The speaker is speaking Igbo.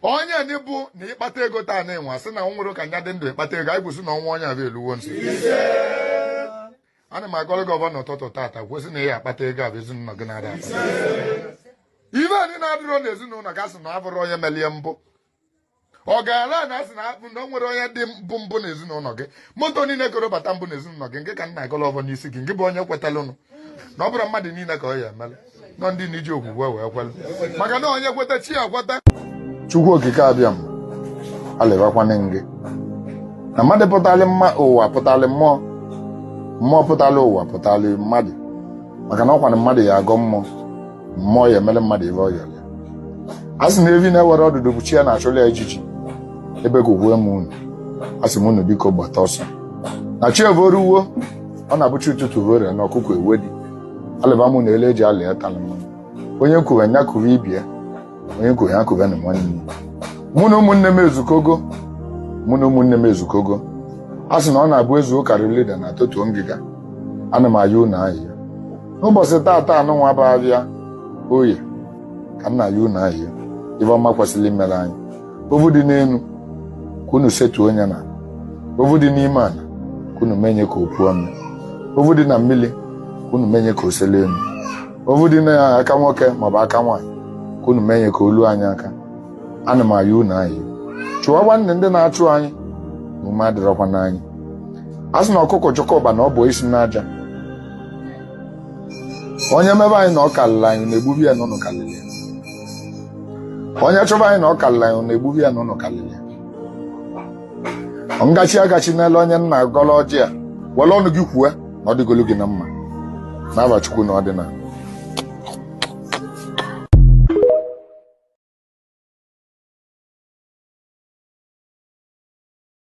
onye ndị bụ na ịkpata ego taa na ịnwa sị na nwere ka nya dị ndụ ịkpata ego anyị kwụsị na ọnwa onye abịa eluwo nso ana m agọrọ gị ọvọ n'ụtụtụ tata kwusi na ị ya akpata ego abụ ezinụlọ gị na-ada ive anyị na-adịrọ n'ezinụlọ gị a sị na abụrụ onye melie mbụ ọ gaala na asị na akpụ na o nwere onye dị mbụ mbụ n'ezinụlọ gị moto niile koro bata mbụ n'ezinụlọ gị nke ka m na-agọlọ ọvọ n'isi gị nke bụ onye kwetalụnụ na ọ bụrụ mmadụ niile ka ọ ya emela nọ ndị niile ji okwukwe wee kwere maka na onye kweta chi ya kweta chukwu okike abịama alịbakwana gị na mmadụ pụtali ụwa pụtali mmụọ mmụọ pụtali ụwa pụtali mmadụ maka na ọ kwa na mmadụ ya agọ mmụọ mmụọ ya emere mmadụ ive ọ yọrọ ya a sị na evi na-enwerọ ọdụdụ bụ chi ya na-achụlụ ya ijiji ebekuwe m unu a sị m unu biko gbata ọsọ na chi evoruwo ọ na-abụ chi ụtụtụ vore na ọkụkọ ewedi alịbamụ na ele eji alị atalị mmanụ onye m kuwe nya kuwe ibe ya onye m kuwe ya kuwenụ nwanne m mụ na ụmụnne m ezukogo mụ na ụmụnne m ezukogo a sị na ọ na-abụ e zuo ka a ra eli udene a totuo ngịga ana m ayọ unu ayịyọ n'ụbọchị taata a nụnwa bụ avịa oye ka m na-ayọ unu ayịyọ ive ọma kwesịrị imere anyị ovu dị n'elu ka unu setuo onye na ovu dị n'ime ala ka unu menye ka o puo ome ovu dị na mmiri ka unu menye ka o sele elu ovu dị na aka nwoke maọbụ aka nwaanyị ka unu menye ka o lu anyị aka ana m ayọ unu ayịyọ chụwakwanụ ndị na-achụ anyị na ume adịrọkwa n'anyị a sị na ọkụkọ chọkọba na ọ bụ isi n'aja onye mebe anyị na ọ kalịlị anyị unu egbube ya na unu kalịlị ya onye chọba anyị na ọ karịrị anyị unu egbube ya na unu karịrị ya ngachi agachi n'elu onye m na-agọlụ ọjị a were ọnụ gị kwue na ọ dịgolu gị na mma n'ava chukwu na ọdịnala